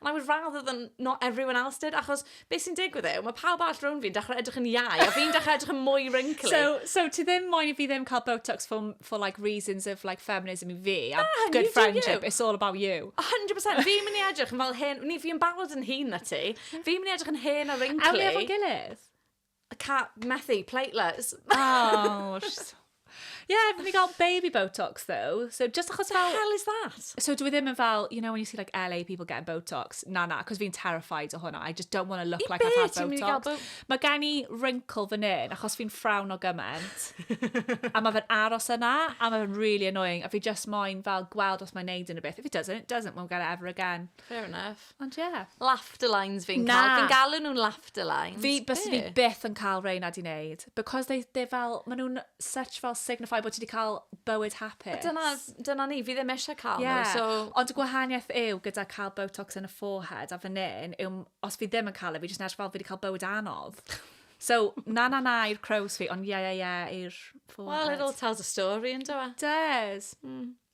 And I would rather than not everyone else did, achos beth sy'n digwydd yw, mae pawb all rown fi'n dechrau edrych yn iau, a fi'n dechrau edrych yn mwy wrinkly. So, so ti ddim moyn i fi ddim cael Botox for, for like reasons of like feminism i fi, a Na, good friendship, you. it's all about you. 100%, fi'n mynd i edrych yn fel hen, ni fi'n barod yn hun na ti, fi'n mynd i edrych yn hen a wrinkly. Awn ni efo'n gilydd? I can't, methu, plateless. Oh, she's... Yeah, fi wedi cael baby Botox, though. So, just achos fel... The hell is that? So, dwi ddim yn fel, you know, when you see like LA people getting Botox, na na, cos fi'n terrified o hwnna. I just don't want to look I like I've had Botox. Bo mae gen i wrinkle fan hyn, achos fi'n ffrawn o gymaint. a mae fe'n aros yna, a mae fe'n really annoying. A fi just moyn fel gweld os mae'n neud yn y beth. If it doesn't, it doesn't, we'll get it ever again. Fair enough. Ond ie. Yeah. Laughter lines fi'n cael. Fi'n galw nhw'n laughter lines. Fi, bys fi byth yn cael rei na di wneud. Because they, they fel, maen nhw'n such fel signify bod ti wedi cael bywyd hapus. Dyna, dyna ni, fi ddim eisiau cael yeah. nhw. So... Ond y gwahaniaeth yw gyda cael botox yn y forehead a fan hyn, yw, os fi ddim yn cael e, fi jyst yn edrych fel fi wedi cael bywyd anodd. So, na na na i'r crows fi, ond ie ie ie i'r forehead. Well, it all tells a story, yn dywa. E? Does. Mm.